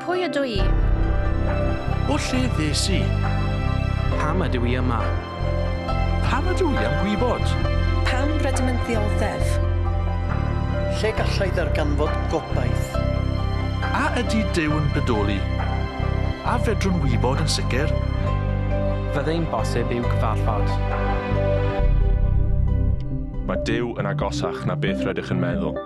Pwy ydw i? O lle ddes i? Pam ydw i yma? Pam ydw i am gwybod? Pam rydym yn ddioddef? Lle gallai ddarganfod gobaith? A ydy Duw yn bodoli? A fedrwn wybod yn sicr? Fyddai'n bosib i'w gyfarfod? Mae Duw yn agosach na beth rydych yn meddwl.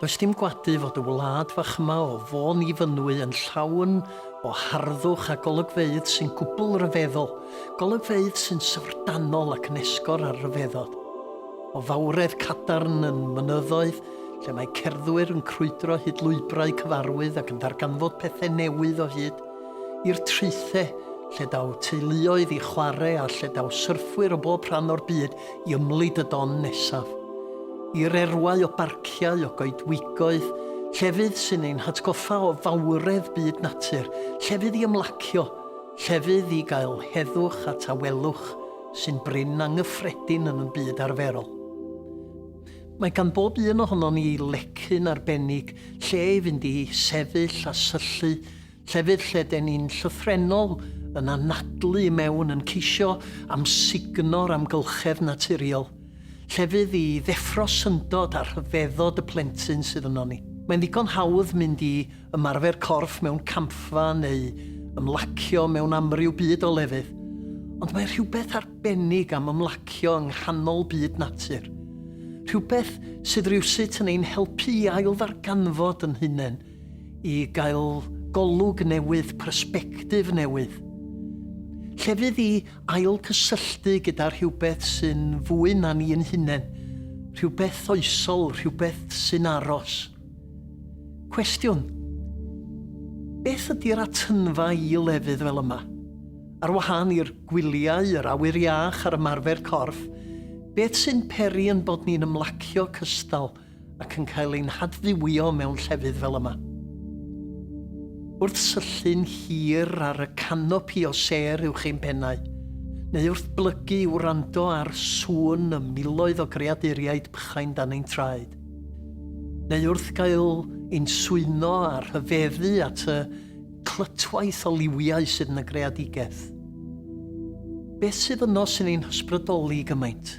Does dim gwadu fod y wlad fach yma o Fôn i Fynwy yn llawn o harddwch a golygfeydd sy'n gwbl ryfeddol, golygfeydd sy'n syfrdanol ac yn esgor ar ryfeddod. O fawredd cadarn yn mynyddoedd, lle mae cerddwyr yn crwydro hyd lwybrau cyfarwydd ac yn darganfod pethau newydd o hyd, i'r traethau, lle daw teuluoedd i chwarae a lle daw syrffwyr o bob rhan o'r byd i ymlid y don nesaf, i'r erwau o barciau, o goedwigoedd, llefydd sy'n ein hatgoffa o fawredd byd natur, llefydd i ymlacio, llefydd i gael heddwch a tawelwch sy'n brin anghyffredin yn y byd arferol. Mae gan bob un ohonon ni lecyn arbennig lle i fynd i sefyll a syllu Llefydd lle den ni'n llythrennol yn anadlu i mewn yn ceisio amsugno'r amgylchedd naturiol. Llefydd i ddeffro syndod a rhyfeddod y plentyn sydd yno ni. Mae'n ddigon hawdd mynd i ymarfer corff mewn campfa neu ymlacio mewn amryw byd o lefydd. Ond mae rhywbeth arbennig am ymlacio yng nghanol byd natur. Rhywbeth sydd rywsut yn ein helpu i ailddarganfod yn hunain i gael golwg newydd, persbectif newydd, llefydd i ailgysylltu gyda rhywbeth sy'n fwy na ni ein hunain, rhywbeth oesol, rhywbeth sy'n aros. Cwestiwn, beth ydy'r atynfa i lefydd fel yma? Ar wahân i'r gwyliau, yr awyr iach a'r ymarfer corff, beth sy'n peri yn bod ni'n ymlacio cystal ac yn cael ein hadfywio mewn llefydd fel yma. Wrth syllu'n hir ar y canopi o sêr uwch ein pennau, neu wrth blygu i wrando ar sŵn y miloedd o greaduriaid bychain dan ein traed, neu wrth gael ein swyno a rhyfeddu at y clytwaith o liwiau sydd yn y greadigaeth. Beth sydd yno sy'n ein hysbrydoli gymaint?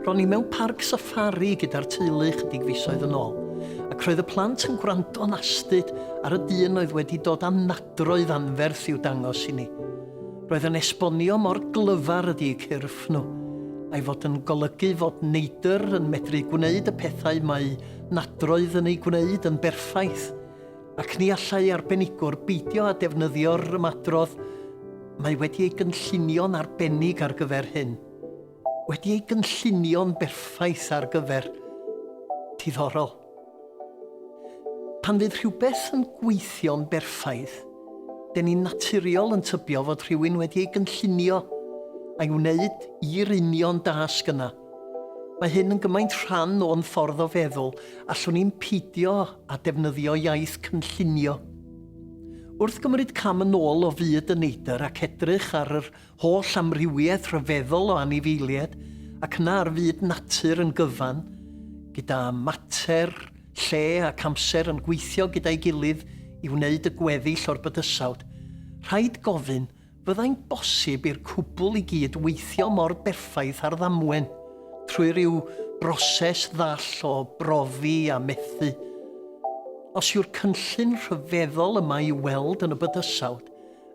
Ro'n i mewn parc safari gyda'r teulu chydig fisoedd yn ôl, ac roedd y plant yn gwrando'n astud ar y dyn oedd wedi dod â nadroedd anferth i'w dangos i ni. Roedd yn esbonio mor glyfar ydi eu cyrff nhw, a'i fod yn golygu fod neidr yn medru gwneud y pethau mae nadroedd yn eu gwneud yn berffaith, Ac ni allai arbenigwr beidio â defnyddio'r ymadrodd, Mae wedi ei gynllunio'n arbennig ar gyfer hyn. Wedi ei gynllunio'n berffaith ar gyfer. Diddorol. Pan fydd rhywbeth yn gweithio'n berffaith, den ni'n naturiol yn tybio fod rhywun wedi ei gynllunio a'i wneud i'r union dasg yna. Mae hyn yn gymaint rhan o'n ffordd o feddwl, allwn ni'm peidio â defnyddio iaith cynllunio. Wrth gymryd cam yn ôl o fyd y neidr ac edrych ar yr holl amrywiaeth rhyfeddol o anifeiliaid ac yna ar fyd natur yn gyfan, gyda mater, lle ac amser yn gweithio gyda'i gilydd i wneud y gweddill o'r bydysawd, rhaid gofyn, Fyddai'n bosib i'r cwbl i gyd weithio mor berffaith ar ddamwen, trwy ryw broses ddall o brofi a methu? Os yw'r cynllun rhyfeddol yma i'w weld yn y bydysawd,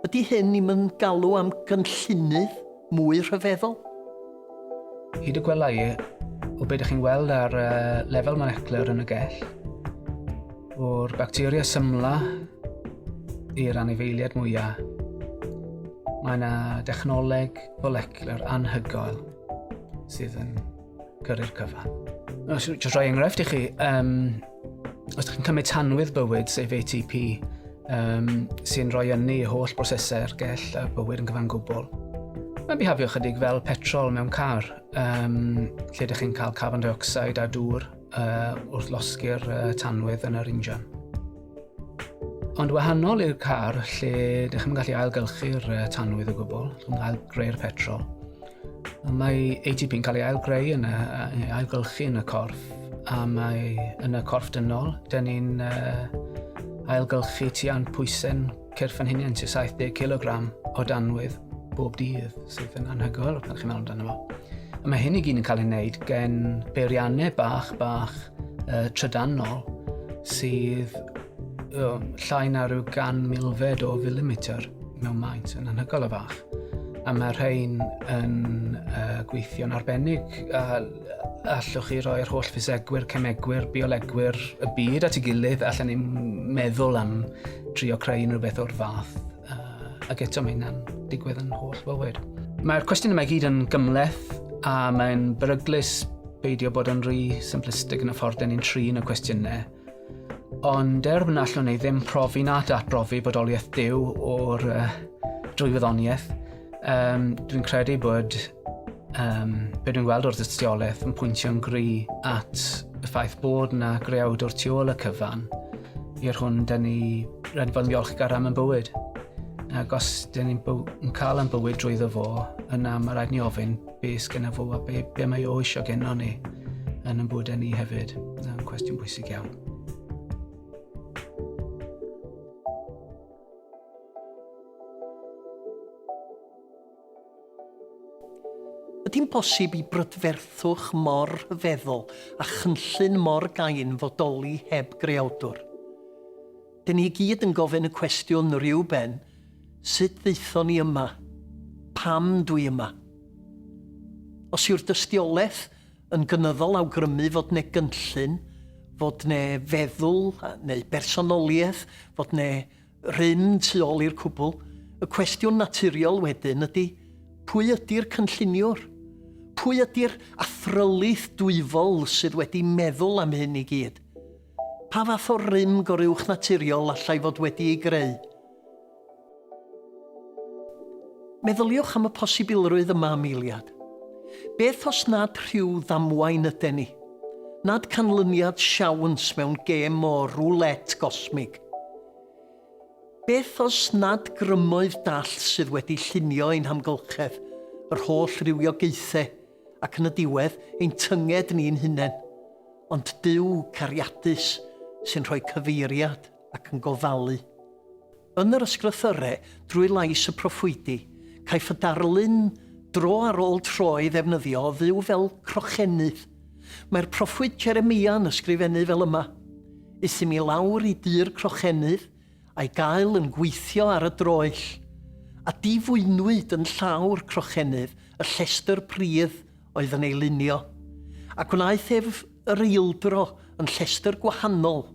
ydy hyn i'm yn galw am gynllunydd mwy rhyfeddol? Hyd y gwela i, o beth ydych chi'n weld ar uh, lefel molecular yn y gell, o'r bacteria symla i'r anifeiliad mwyaf, mae yna dechnoleg folecular anhygoel sydd yn cyrru'r cyfan. Os yw'n rhoi enghraifft i chi, um, os ydych chi'n cymryd tanwydd bywyd, sef ATP, um, sy'n rhoi ynni i holl brosesau ergell a bywyd yn gyfan gwbl. Mae'n bihafio chydig fel petrol mewn car, um, lle ydych chi'n cael carbon dioxide a dŵr uh, wrth losgu'r uh, tanwydd yn yr injan. Ond wahanol i'r car lle ydych chi'n gallu ailgylchu'r uh, tanwydd o gwbl, ydych chi'n cael greu'r petrol. Mae ATP yn cael ei ailgreu yn y, yn ailgylchu yn y corff a mae yn y corff dynol, dyn ni'n uh, ailgylchu tua'n pwysau'n cyrff yn hynny'n sy'n 70 kg o danwydd bob dydd sydd yn anhygoel pan chi'n meddwl amdano fo. A mae hyn i gyd yn cael ei wneud gen beiriannau bach, bach uh, trydanol sydd um, llai na rhyw gan milfed o filimetr. mewn maint yn anhygoel o fach. A mae rhain yn uh, gweithio'n arbennig a allwch chi roi'r holl ffisegwyr, cemegwyr, biolegwyr y byd at ei gilydd allan ni'n meddwl am trio creu unrhyw beth o'r fath. Uh, ac eto mae hynna'n digwydd yn holl fywyd. Mae'r cwestiwn yma i gyd yn gymleth a mae'n beryglus beidio bod yn rhy simplistig yn y ffordd dyn ni'n trin y cwestiynau. Ond er wna allwn ei ddim profi na datbrofi bodoliaeth Duw o'r uh, drwy wyddoniaeth, um, dwi'n credu bod um, be dwi'n gweld o'r dystiolaeth yn pwyntio'n gry at y ffaith bod yna greawd o'r tu ôl y cyfan i'r hwn dyn ni rhaid bod yn ddiolchgar am y bywyd. Ac os dyn ni'n byw, cael yn bywyd drwy ddo fo, yna mae rhaid ni ofyn Be sgynna fo a be, be mae o eisiau genno ni yn yn bwyd ni hefyd. Yn cwestiwn bwysig iawn. Ydy'n bosib i brydferthwch mor feddwl a chynllun mor gain fodoli heb greawdwr? Dyn ni gyd yn gofyn y cwestiwn rhyw ben, Sut ddaethon ni yma? Pam dw i yma? Os yw'r dystiolaeth yn gynyddol awgrymu fod 'ne gynllun, fod 'ne feddwl neu bersonoliaeth, fod 'ne rym tu ôl i'r cwbl, y cwestiwn naturiol wedyn ydi, pwy ydi'r cynlluniwr? Pwy ydi'r athrylith dwyfol sydd wedi meddwl am hyn i gyd? Pa fath o rym goruwchnaturiol allai fod wedi ei greu? Meddyliwch am y posibilrwydd yma am eiliad. Beth os nad rhyw ddamwain yden ni? Nad canlyniad siawns mewn gêm o roulette gosmig? Beth os nad grymoedd dallt sydd wedi llunio ein hamgylchedd, yr holl rywiogaethau, ac yn y diwedd ein tynged ni'n hunain, ond Duw cariadus sy'n rhoi cyfeiriad ac yn gofalu. Yn yr ysgrythyrau, drwy lais y proffwydi, caiff y darlun dro ar ôl tro ei ddefnyddio o fyw fel crochennydd. Mae'r proffwyd Jeremia yn ysgrifennu fel yma, Euthum i lawr i dŷ'r crochennydd, a'i gael yn gweithio ar y droell, a difwynwyd yn llawr crochennydd y llestr pridd oedd yn ei lunio, a gwnaeth ef yr eildro yn llestr gwahanol,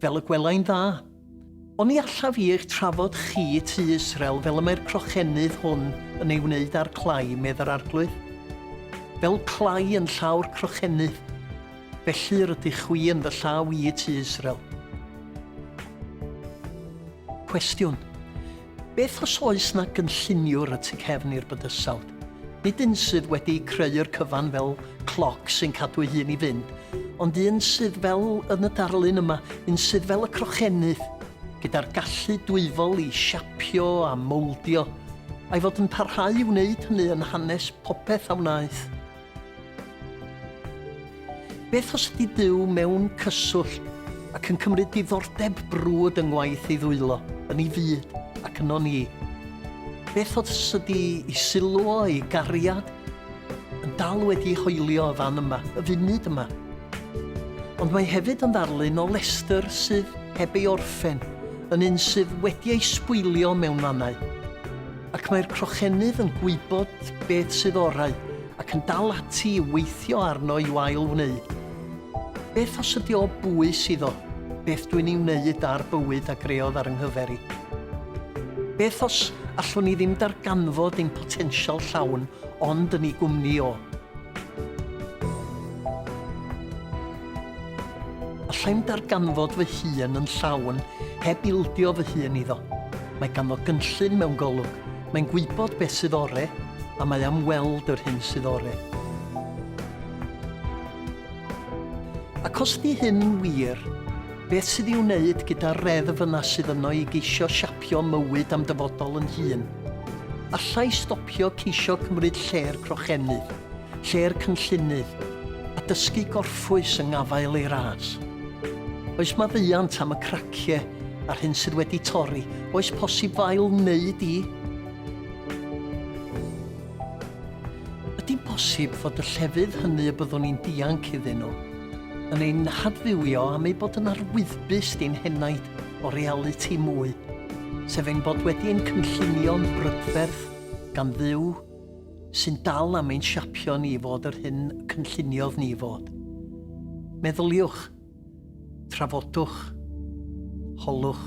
fel y gwelai'n dda. Oni allaf i eich trafod chi, tu Israel, fel y mae'r crochennydd hwn yn ei wneud â'r clai, medd yr Arglwydd? Fel clai yn llawr crochennydd. Felly rydych chwi yn fy llaw i y tu Israel. Cwestiwn, Beth os oes na gynlluniwr y tu cefn i'r bydysawd? Nid un sydd wedi creu'r cyfan fel cloc sy'n cadw ei hun i fynd, ond un sydd fel yn y darlun yma, un sydd fel y crochennydd, gyda'r gallu dwyfol i siapio a mowldio, a'i fod yn parhau i wneud hynny yn hanes popeth a wnaeth. Beth os ydy Duw mewn cyswllt ac yn cymryd diddordeb brwd yng ngwaith ei ddwylo, yn ei fyd ac yno ni? Beth os ydy ei sylw o, ei gariad, yn dal wedi ei hoelio y fan yma, y funud yma? Ond mae hefyd yn ddarlun o Lester sydd heb ei orffen, yn un sydd wedi ei sbwylio mewn mannau. Ac mae'r crochennydd yn gwybod beth sydd orau ac yn dal ati i weithio arno i'w ail-wneud. Beth os ydi o bwys iddo beth dwi'n ei wneud a'r bywyd a greodd ar 'y nghyfer i? Beth os allwn i ddim darganfod ein potensial llawn ond yn ei gwmni o? Allai'm darganfod fy hun yn llawn heb ildio fy hun iddo. Mae ganddo gynllun mewn golwg, mae'n gwybod beth sydd ore, a mae am weld yr hyn sydd ore. Ac os ydy hyn yn wir, beth sydd i'w wneud gyda'r reddf yna sydd yno i geisio siapio mywyd a'm dyfodol yn hun? Alla i stopio ceisio cymryd lle'r crochennydd, lle'r cynllunydd, a dysgu gorffwys yng ngafael ei ras. Oes maddeuant am y cracie a'r hyn sydd wedi torri, oes posib fail neu di? Ydi'n bosib fod y llefydd hynny y byddwn ni'n dianc iddyn nhw yn ein hadfywio am eu bod yn arwyddbus di'n henaid o realiti mwy, sef ein bod wedi ein cynllunio'n brydferth gan Dduw? sy'n dal am ein siapio ni i fod yr hyn y cynlluniodd ni fod. Meddyliwch, trafodwch, holwch.